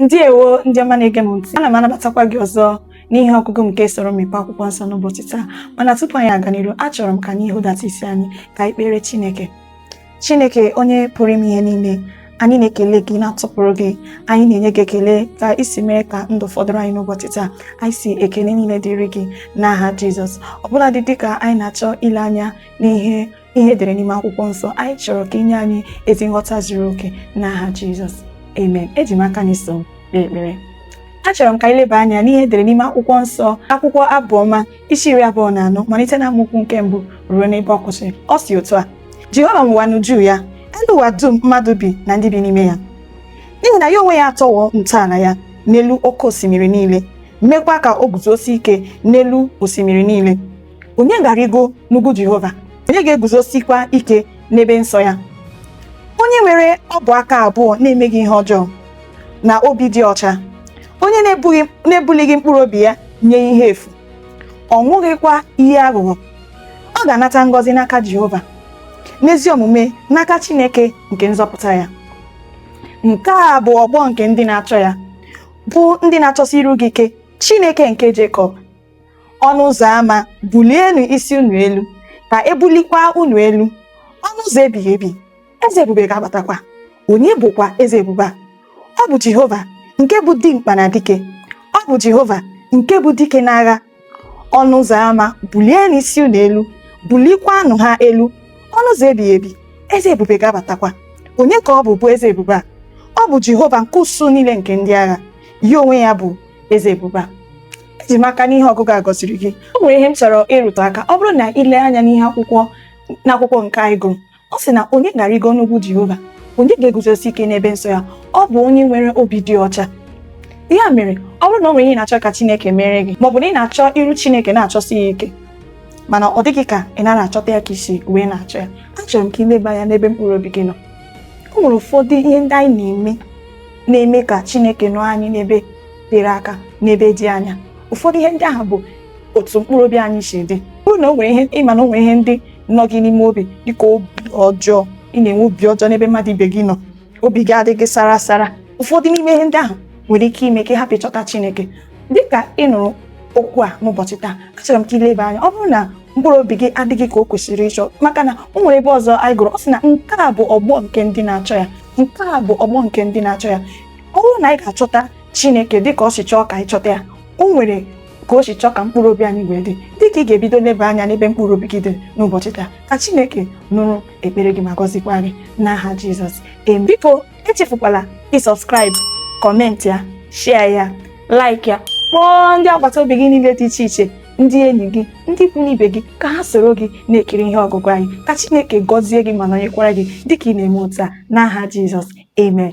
ndewo ndị ọma na-ege m ntị ana m anabatakwa gị ọzọ n'ihe ọgụgụ nke soro m mepe akwụkwọ nsọ n'ụbọchị taa mana tupu anyị aga n'iru achọrọ m ka anyị hudata isi anyị ka anyị kpere Chineke Chineke onye pụrụ ime ihe niile anyị na-ekele gị na-atụpụrụ gị anyị na-enye gị ekele ka i si mere ka ndụ fọdụrụ anyị n'ụbọchị taa anyị sị ekele niile dịrị gị n'aha Jizọs ọbụladị dịka anyị na-achọ ile anya n'ihe ihe edere n'ime akwụkwọ nsọ anyị chọrọ ka i nye anyị ezi nghọta zuru oke n'aha Jizọs amen eji m aka na i so kpee ekpere achọrọ m ka anyị leba anya n'ihe edere n'ime akwụkwọ nsọ akwụkwọ abụọma isi iri abụọ na anọ malite na amaokwu nke mbụ ruo n'ebe ọ kwụsịrị ọ si otu a Jehova nwe ụwa na uju ya elu ụwa dum mmadụ bi na ndị bi n'ime ya n'ihi na ya onwe ya atọwo ntọala ya n'elu oke osimiri niile mekwa ka o guzosie ike n'elu osimiri niile onye ga-arịgo n'ugwu Jehova onye ga-eguzosikwa ike n'ebe nsọ ya onye nwere ọbụ aka abụọ na-emeghị ihe ọjọọ na obi dị ọcha onye na-ebulighị mkpụrụ obi ya nye ihe efu ọ ṅụghịkwa iyi aghụghọ ọ ga-anata ngọzi n'aka Jehova na ezi omume n'aka Chineke nke nzọpụta ya nke a bụ ọgbọ nke ndị na-achọ ya bụ ndị na-achọsi iru gị ike Chineke nke Jekọb ọnụ ụzọ ámá bulienụ isi unu elu ka e bulikwa unu elu ọnụ ụzọ ebighị ebi eze ebube ga-abatakwa onye bụkwa eze ebube a ọ bụ jehova nke bụ dimkpa na dike ọ bụ jehova nke bụ dike n'agha ọnụ ụzọ ámá bulienụ isi unu elu bulikwanụ ha elu ọnụ ụzọ ebighị ebi eze ebube ga-abatakwa onye ka ọ bụ bụ eze ebube a ọ bụ jehova nke usuu niile nke ndị agha ya onwe ya bụ eze ebube a eji m aka na ihe ọgụgụ a gọziri gị o nwere ihe m chọrọ ịrụtụ aka ọ bụrụ na i lee anya n'ihe akwụkwọ n'akwụkwọ nke anyị gụrụ ọ sị na onye ga-arịgo n'ugwu Jehova onye ga-eguzosi ike n'ebe nsọ ya ọ bụ onye nwere obi dị ọcha ya mere ọ bụrụ na o nwere ihe ị na-achọ ka Chineke meere gị maọbụ na ị na-achọ iru Chineke na-achọsi ya ike mana ọ dị gị ka ị nara achọta ya ka i si wee na-achọ ya achọrọ m ka ị leba anya n'ebe mkpụrụ obi gị nọ o nwere ụfọdụ ihe ndị anyị na-eme na-eme ka Chineke nọọ anyị n'ebe tere aka n'ebe dị anya ụfọdụ ihe ndị ahụ bụ otu mkpụrụ obi anyị si dị ọ bụrụ na o nwere ihe ị ma na o nwere ihe ndị nọ gị n'ime obi dịka obi ọjọọ ị na-enwe obi ọjọọ n'ebe mmadụ ibe gị nọ obi gị adịghị sara sara ụfọdụ n'ime ihe ndị ahụ nwere ike ime ka ị hapụ ịchọta Chineke dịka ị nụrụ okwu a n'ụbọchị taa achọrọ m ka i leba anya ọ bụrụ na mkpụrụ obi gị adịghị ka o kwesịrị ịchọ maka na o nwere ebe ọzọ anyị gụrụ ọ sị na nke a bụ ọgbọ nke ndị na-achọ ya nke a bụ ọgbọ nke ndị na-achọ ya ọ bụrụ na anyị ga-achọta chineke dị ka o si chọọ ka anyị chọta ya o nwere ka o si chọọ ka mkpụrụ obi anyị wee dị dị ka ị ga-ebido leba anya n'ebe mkpụrụ obi gị dị n'ụbọchị taa ka chineke nụrụ ekpere gị ma gọzikwa gị n'aha jizọs em biko echefukwala ịsubscribe comment ya share ya like ya kpọọ ndị agbata obi gị niile dị iche iche ndị enyi gị ndị ikwu n'ibe gị ka ha soro gị na-ekiri ihe ọgụgụ anyị ka Chineke gọzie gị ma nọnyekwara gị dịka ị na-eme otu a n'aha Jizọs amen